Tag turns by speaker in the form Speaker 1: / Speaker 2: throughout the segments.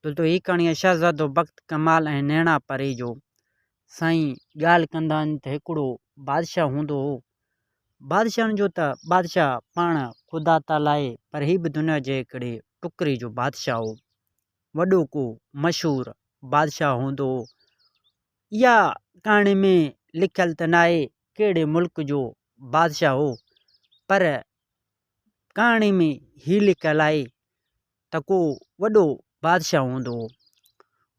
Speaker 1: دوستو هي ڪهاڻي آهي شهزادو بخت ڪمال ۽ نيڻا پري جو سائين ڳالهه ڪندا آهن ته هڪڙو بادشاهه هوندو هو بادشاهن جو ته بادشاهه پاڻ خدا تعالي آهي پر هي به دنيا جي هڪڙي ٽڪري جو بادشاهه هو وڏو ڪو مشهور بادشاهه هوندو هو اها ڪهاڻي ۾ لکيل ته نه آهي ڪهڙي ملڪ جو بادشاهه هو پر ڪهاڻي ۾ هي لکيل آهي ته ڪو وڏو بادشاهه هوندو هو.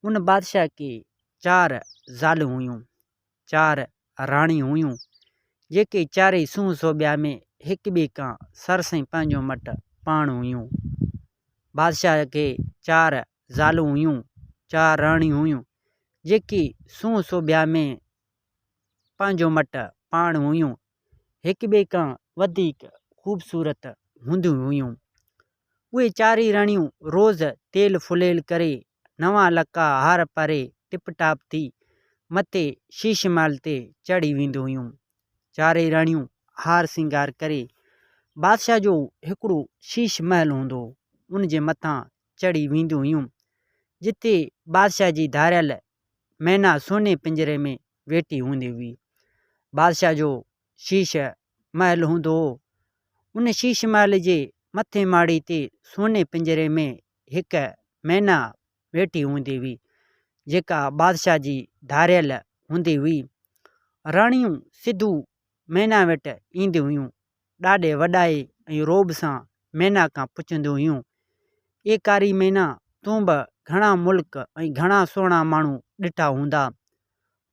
Speaker 1: ان بادشاهه کي چار زالون هيون، چار راڻيون هيون، جيڪي چارئي سونهن سوڀيا ۾ هڪٻئي کان سرس ۽ پنهنجو مٽ پاڻ هيون. بادشاهه کي چار زالون هيون، چار راڻيون هيون، جيڪي سونهن سوڀيا ۾ پنهنجو مٽ پاڻ هيون، هڪٻئي کان وڌيڪ خوبصورت هونديون هيون. اهي چارئي رڻيون روز تيل ڦليل ڪري، نوان لڪا هار پاري ٽپ ٽاپ ٿي، مٿي شيش محل تي چڙهي وينديون هيون. چارئي رڻيون هار سينگار ڪري، بادشاهه جو هڪڙو شيش محل هوندو هو، ان جي مٿان چڙهي وينديون هيون، جتي بادشاهه جي ڌاريل مينا سوني پڃري ۾ ويٺي هوندي هئي. بادشاهه جو شيش محل هوندو هو. ان شيش محل جي مٿين ماڙي تي سوني پڃري ۾ هڪ مينا ويٺي هوندي هئي، جيڪا بادشاهه جي ڌاريل هوندي هئي. راڻيون سڌو مينا وٽ اينديون هيون. ڏاڍي وڏائي ۽ رعب سان مينا کان پڇنديون هيون، اي ڪاري مينا، تون به گهڻا ملڪ ۽ گهڻا سهڻا ماڻهو ڏٺا هوندا،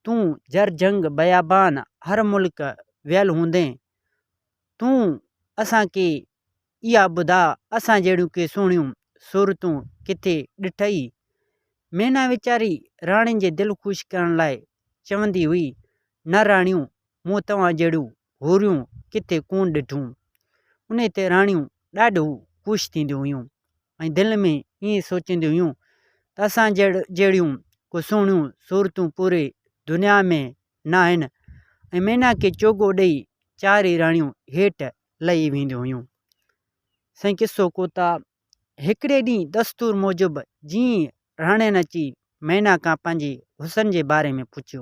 Speaker 1: تون جر جنگ بيابان هر ملڪ ويل هوندين تون اسان کي اها ٻڌاء اسان جهڙيون ڪي سهڻيون صورتون ڪٿي ڏٺئي؟ مينا ويچاري راڻين جي دل خوش ڪرڻ لاء چوندي هئي، نه راڻيو مون توهان جهڙيون هوريون ڪٿي ڪونه ڏٺون. انهي تي راڻيون ڏاڍو خوش ٿينديون هيون ۽ دل ۾ ائين سوچينديون هيون ته اسان جهڙيون ڪو سهڻيون صورتون پوري دنيا ۾ ناهن ۽ ميناڪي چوغو ڏيئي چارئي راڻيون هيٺ لهي وينديون هيون. سائين قصو ڪوتا هڪڙي ڏينهن دستور موجب جيئن راڻين اچي مينا کان پنهنجي حسن جي باري ۾ پڇيو.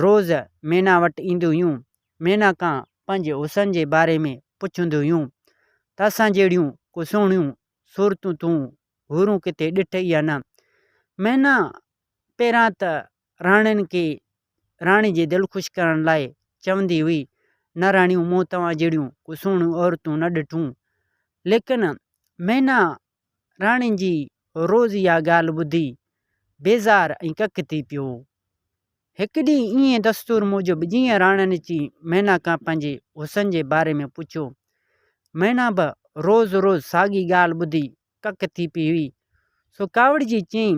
Speaker 1: روز مينا وٽ اينديون هيون. مينا کان پنهنجي حسن جي باري ۾ پڇنديون هيون ته اسان جهڙيون ڪو سهڻيون صورتون تون حورون ڪٿي ڏٺئي يا نه. مينا پهريان ته راڻين کي راڻي جي دل خوش ڪرڻ لاء چوندي هئي، نه راڻيو مون توهان جهڙيون ڪو سهڻيون عورتون نه ڏٺون. ليڪن مينا راڻين جي روز اها ڳالهه ٻڌي بيزار ۽ ڪڪ ٿي پيو هو. هڪ ڏينهن ايئن دستور موجب جيئن راڻين اچي مينا کان پنهنجي حسن جي باري ۾ پڇيو، مينا به روز روز ساڳي ڳالهه ٻڌي ڪڪ ٿي پيئي هئي، سو ڪاوڙجي چيائين،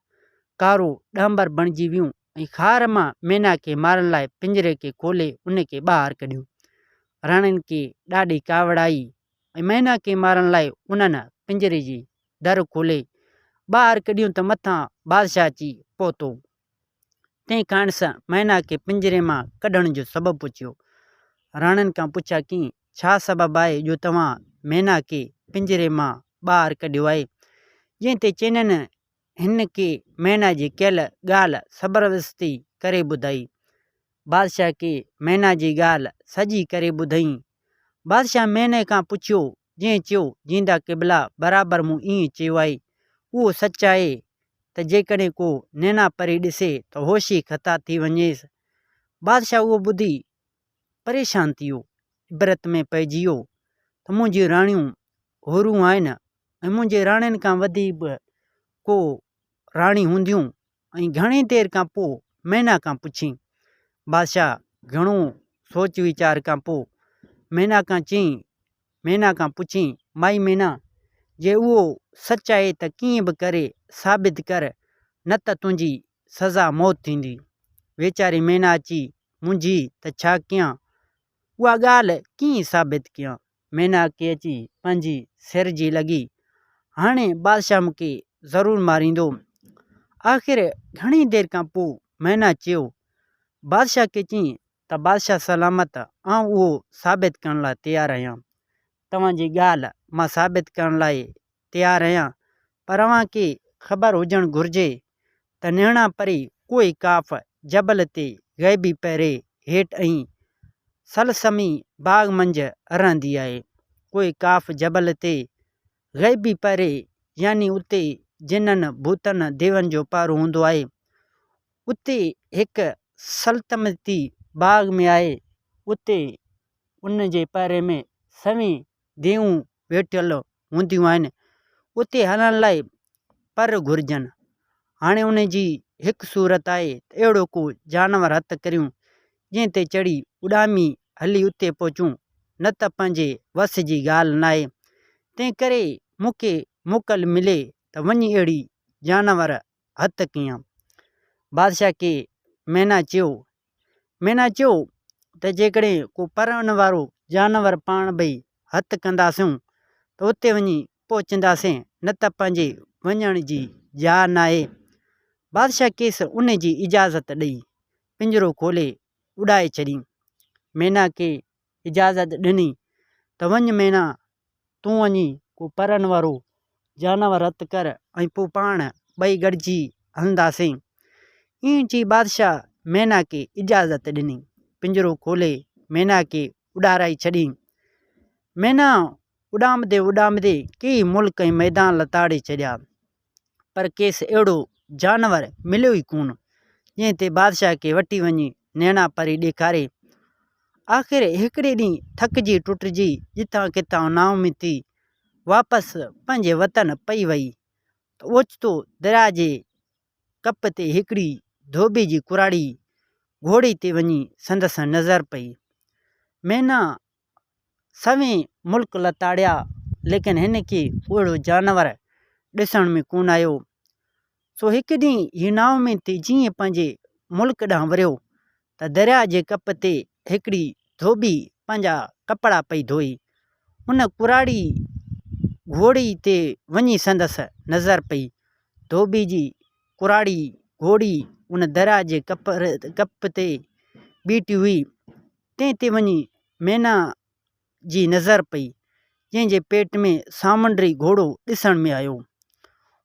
Speaker 1: ڪارو ڏانڀر بڻجي ويون ۽ خار مان مينا کي مارڻ لاء پڃري کي کولي ان کي ٻاهر ڪڍيو. راڻين کي ڏاڍي ڪاوڙ آئي ۽ مينا کي مارڻ لاء انهن پڃري جي در کولي ٻاهر ڪڍيون ته مٿان بادشاهه اچي پهتو. تنهن کانئس مينا کي پڃري مان ڪڍڻ جو سبب پڇيو. راڻين کان پڇا ڪيئي ڇا سبب آهي جو توهان مينا کي پڃري مان ٻاهر ڪڍيو آهي؟ جنهن تي چينن هن ڪي مينا جي ڪيل ڳالهه سبروستي ڪري ٻڌائي. بادشاهه ڪي مينا جي ڳالهه سڄي ڪري ٻڌائين. بادشاهه ميني کان پڇيو، جنهن چيو، جيندا قبلا، برابر مون ائين چيو آهي. اهو سچ آهي ته جيڪڏهن ڪو نينا پري ڏسي ته هوش ئي خطا ٿي وڃيس. بادشاهه اهو ٻڌي پريشان ٿي ويو. عبرت ۾ پئجي ويو ته منهنجيون راڻيون حورون آهن ۽ منهنجي راڻين کان وڌي به ڪو راڻي هونديون ۽ گهڻي دير کان پوء مينا کان پڇيائين. بادشاهه گهڻو سوچ ويچار کان پوء مينا کان چيائين، مينا کان پڇيائين، مائي مينا! جي اهو سچ آهي ته ڪيئن به ڪري ثابت ڪر، نه ته تنهنجي سزا موت ٿيندي. ويچاري مينا اچي منجهي ته ڇا ڪيان؟ اها ڳالهه ڪيئن ثابت ڪيان؟ ميناڪي اچي پنهنجي سر جي لڳي. هاڻي بادشاهه مون کي ضرور ماريندو. آخر گهڻي دير کان پوء مينا چيو. بادشاهه کي چيائين ته بادشاهه سلامت آئون اهو ثابت ڪرڻ لاء تيار آهيان. توهان جي ڳالهه مان ثابت ڪرڻ لاء تيار رهيا پر اوهان کي خبر هجڻ گهرجي ته نهڻا پري ڪوهي قاف جبل تي غيبي پهري هيٺ ۽ سلسمي باغ منجهه رهندي آهي. ڪوهي قاف جبل تي غيبي پهري يعني اتي جنن ڀوتن ديون جو پهرو هوندو آهي. اتي هڪ سلتمتي باغ ۾ آهي اتي ان جي پهري ۾ سوين ديون ويٺل هونديون آهن اتي هلڻ لاء پر گهرجن. هاڻي ان جي هڪ صورت آهي ته اهڙو ڪو جانور هٿ ڪريون جنهن تي چڙهي اڏامي هلي اتي پهچون نه ته پنهنجي وس جي ڳالهه ناهي تنهن ڪري مون کي موڪل ملي ته وڃي اهڙي جانور هٿ ڪيان. بادشاهه کي مينا چيو. مينا چيو ته جيڪڏهن ڪو پرڻ وارو جانور پاڻ ڀئي هٿ ڪنداسون ته اتي وڃي پهچنداسين نه ته پنهنجي وڃڻ جي جاء ناهي. بادشاهه کيس ان جي اجازت ڏئي پڃرو کولي اڏائي ڇڏيم. مينا کي اجازت ڏني ته وڃ مينا، تون وڃي ڪو پرن وارو جانور هٿ ڪر ۽ پوء پاڻ ٻئي گڏجي هلنداسين. ائين چئي بادشاهه مينا کي اجازت ڏني. پڃرو کولي مينا کي اڏارائي ڇڏيائين. مينا اڏامندي اڏامندي ڪيئي ملڪ ۽ ميدان لتاڙي ڇڏيا. پر کيس اهڙو جانور مليو ئي ڪونه، جنهن تي بادشاهه کي وٺي وڃي نيڻا پري ڏيکاري. آخر هڪڙي ڏينهن ٿڪجي ٽٽجي جتان ڪٿان نااميد ٿي واپس پنهنجي وطن پئي وئي ته اوچتو درياء جي ڪپ تي هڪڙي ڌوٻي جي ڪراڙي گهوڙي تي وڃي سندس نظر پئي. مينا سوين ملڪ لتاڙيا، ليڪن هن کي اهڙو جانور ڏسڻ ۾ ڪونه آيو. سو هڪ ڏينهن هي نااميد جيئن ئي پنهنجي ملڪ ڏانهن وريو ته درياء جي ڪپ تي هڪڙي ڌوٻي پنهنجا ڪپڙا پئي ڌوئي. ان ڪراڙي گهوڙي تي وڃي سندس نظر پئي. ڌوٻي جي ڪراڙي گهوڙي ان درياء جي ڪپ تي بيٺي هئي. تنهن تي وڃي مينا جي نظر پئي، جنهن جي پيٽ ۾ سامنڊي گهوڙو ڏسڻ ۾ آيو.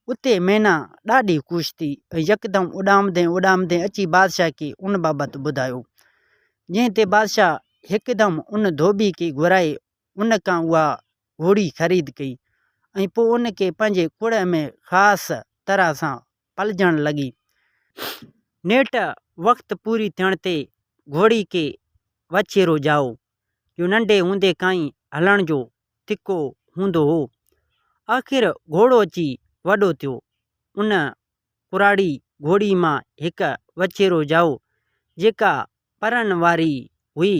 Speaker 1: اتي مينا ڏاڍي خوش ٿي ۽ يڪدم اڏامندي اڏامندي اچي بادشاهه کي ان بابت ٻڌايو، جنهن تي بادشاهه هڪدم ان ڌوٻي کي گهرائي ان کان اها گهوڙي خريد ڪئي ۽ پوء ان کي پنهنجي ڪڙهه ۾ خاص طرح سان پلجڻ لڳي. نيٺ وقت پوري ٿيڻ تي گهوڙي کي وڇيرو ڄائو، جو ننڍي هوندي کان ئي هلڻ جو تکو هوندو هو. آخر گهوڙو اچي وڏو ٿيو. ان ڪراڙي گهوڙي مان هڪ وڇيرو ڄائو، جيڪا پرن واري هئي.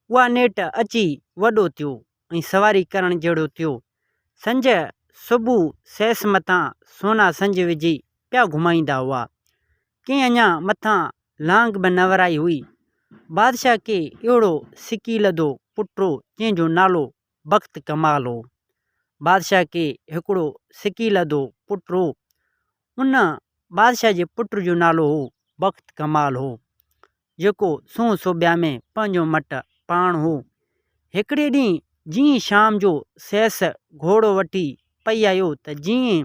Speaker 1: اها نيٺ اچي وڏو ٿيو. ۽ سواري ڪرڻ جهڙو ٿيو. سنج صبح سيس مٿان سونا سنج وجهي پيا گهمائيندا هئا. ڪنهن اڃا مٿان لانگ به نه ورائي هئي. بادشاهه کي اهڙو سڪيلڌو پٽ هو جنهن جو نالو بخت ڪمال هو. بادشاهه کي هڪڙو سڪيلڌو پٽ هو. ان بادشاهه جي پٽ جو نالو هو بخت ڪمال هو، جيڪو سونهن سوڀيا ۾ پنهنجو مٽ پاڻ هو. هڪڙي ڏينهن جيئن شام جو سيس گهوڙو وٺي پئي آيو ته جيئن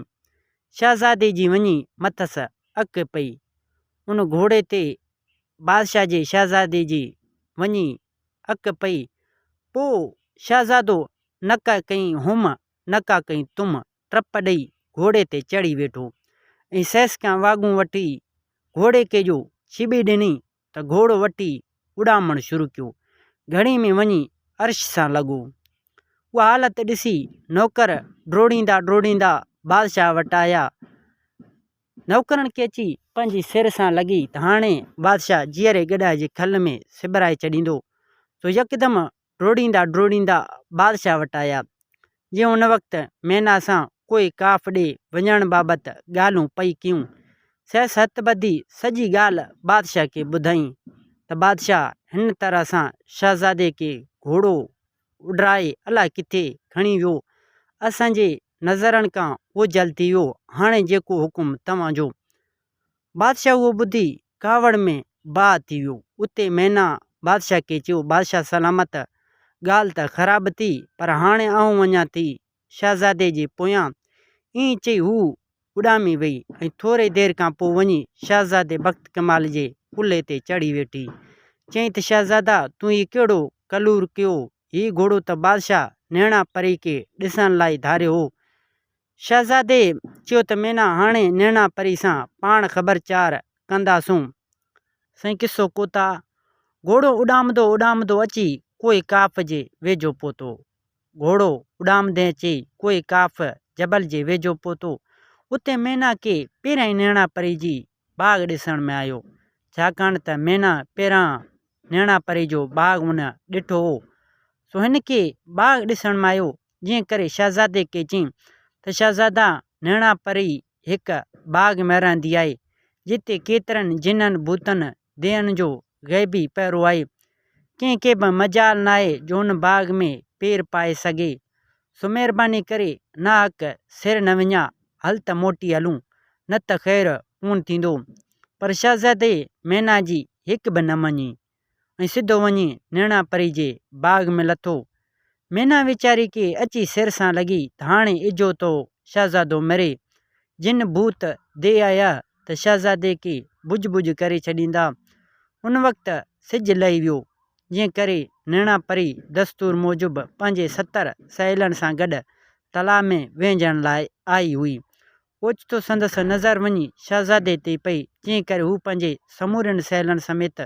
Speaker 1: شهزادي جي وڃي مٿس اک پئي. ان گهوڙي تي بادشاهه جي شهزادي جي وڃي اک پئي. پوء شهزادو نڪا ڪئين هوم، نڪا ڪئين تم، ٽپ ڏئي گهوڙي تي چڙهي ويٺو ۽ سيس کان واڳون وٺي گهوڙي کي جو ڇٻي ڏني ته گهوڙو وٺي اڏامڻ شروع ڪيو. گهڙي ۾ وڃي عرش سان لڳو. اها حالت ڏسي نوڪر ڊوڙيندا ڊوڙيندا بادشاهه وٽ آيا. نوڪرن کي اچي پنهنجي سر سان لڳي ته هاڻي بادشاهه جيئري گڏهه جي کل ۾ سٻرائي ڇڏيندو سو يڪدم ڊوڙيندا ڊوڙيندا بادشاهه وٽ آيا، جي ان وقت مينا سان ڪوئي ڪاف ڏي وڃڻ بابت ڳالهون پئي ڪيون. سي ست ٻڌي سڄي ڳالهه بادشاهه کي ٻڌائين ته بادشاهه هن طرح سان شهزادي کي گهوڙو اڏرائي الاء ڪٿي کڻي ويو. اسان جي نظرن کان اوجهل ٿي ويو. هاڻي جيڪو حڪم توهان جو. بادشاهه اهو ٻڌي ڪاوڙ ۾ باهه ٿي ويو. اتي مينا بادشاهه کي چيو، بادشاهه سلامت، ڳالهه ته خراب ٿي، پر هاڻي آئون وڃان ٿي شهزادي جي پويان. ائين چئي هوء اڏامي ويئي ۽ ٿوري دير کان پوء وڃي شهزادي بخت ڪمال جي ڪلهي تي چڙهي ويٺي. چيائين ته شهزادا، تون هي ڪهڙو ڪلور ڪيو؟ هي گهوڙو ته بادشاهه نهڻا پريڪي ڏسڻ لاء ڌاريو هو. شهزادي چيو ته مينا هاڻي نيڻا پري سان پاڻ خبر چار ڪنداسون. سائين قصو ڪوتا، گهوڙو اڏامندو اڏامندو اچي ڪوهي ڪاف جي ويجهو پهتو. گهوڙو اڏامندي اچي ڪوهي ڪاف، جبل، جي ويجهو پهتو. اتي مينا کي پهريائين نيڻا پري جي ٻاگهه ڏسڻ ۾ آيو. ڇاڪاڻ ته مينا پهريان نيڻا پري جو ٻاگهه ان ڏٺو هو. سو هن کي ٻاگهه ڏسڻ ۾ آيو جنهن ڪري شهزادي کي چيائين ته شهزادا نيڻا پري هڪ باغ ۾ رهندي آهي، جتي ڪيترن جنن، ڀوتن، دين جو غيبي پهرو آهي. ڪنهن کي به مجال ناهي جو ان باغ ۾ پير پائي سگهي. سو مهرباني ڪري ناحق سير نه وڃاء، هل ته موٽي هلون، نه ته خير ڪونه ٿيندو. پر شهزادي مينا جي هڪ به نه مڃي. ۽ سڌو وڃي نيڻا پري جي باغ ۾ لٿو. مينا ويچاري کي اچي سر سان لڳي ته هاڻي اجهو تو شهزادو مري. جن ڀوت دي آيا ته شهزادي کي ڀڄ ڀڄ ڪري ڇڏيندا. ان وقت سج لهي ويو، جنهن ڪري نيڻا پري دستور موجب پنهنجي ستر سهيلن سان گڏ تلاء ۾ وهنجڻ لاء آئي هئي. اوچتو سندس نظر وڃي شهزادي تي پئي، جنهن ڪري هو پنهنجي سمورين سهيلن سميت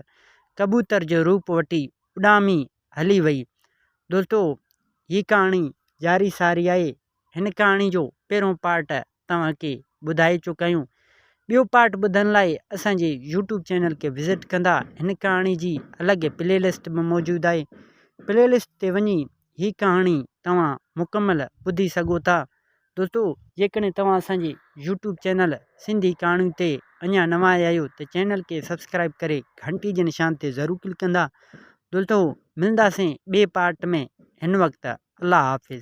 Speaker 1: ڪبوتر جو روپ وٺي اڏامي هلي ويئي. دوستو هي ڪهاڻي جاري ساري آهي. هن ڪهاڻي جو پهريون پارٽ توهان کي ٻڌائي چڪا آهيون. ٻيو پارٽ ٻڌڻ لاء اسان جي يوٽيوب چينل کي وزٽ ڪندا. هن ڪهاڻي جي الڳ پلي لسٽ به موجود آهي. پلي لسٽ تي وڃي هي ڪهاڻي توهان مڪمل ٻڌي سگهو ٿا. دوستو جيڪڏهن توهان اسان جي يوٽيوب چينل سنڌي ڪهاڻيون تي اڃا نوان آيا آهيو ته چينل کي سبسڪرائيب ڪري گهنٽي جي نشان تي ضرور ڪلڪ ڪندا. دوستو ملنداسين ٻئي پارٽ ۾ هن وقت الله حافظ.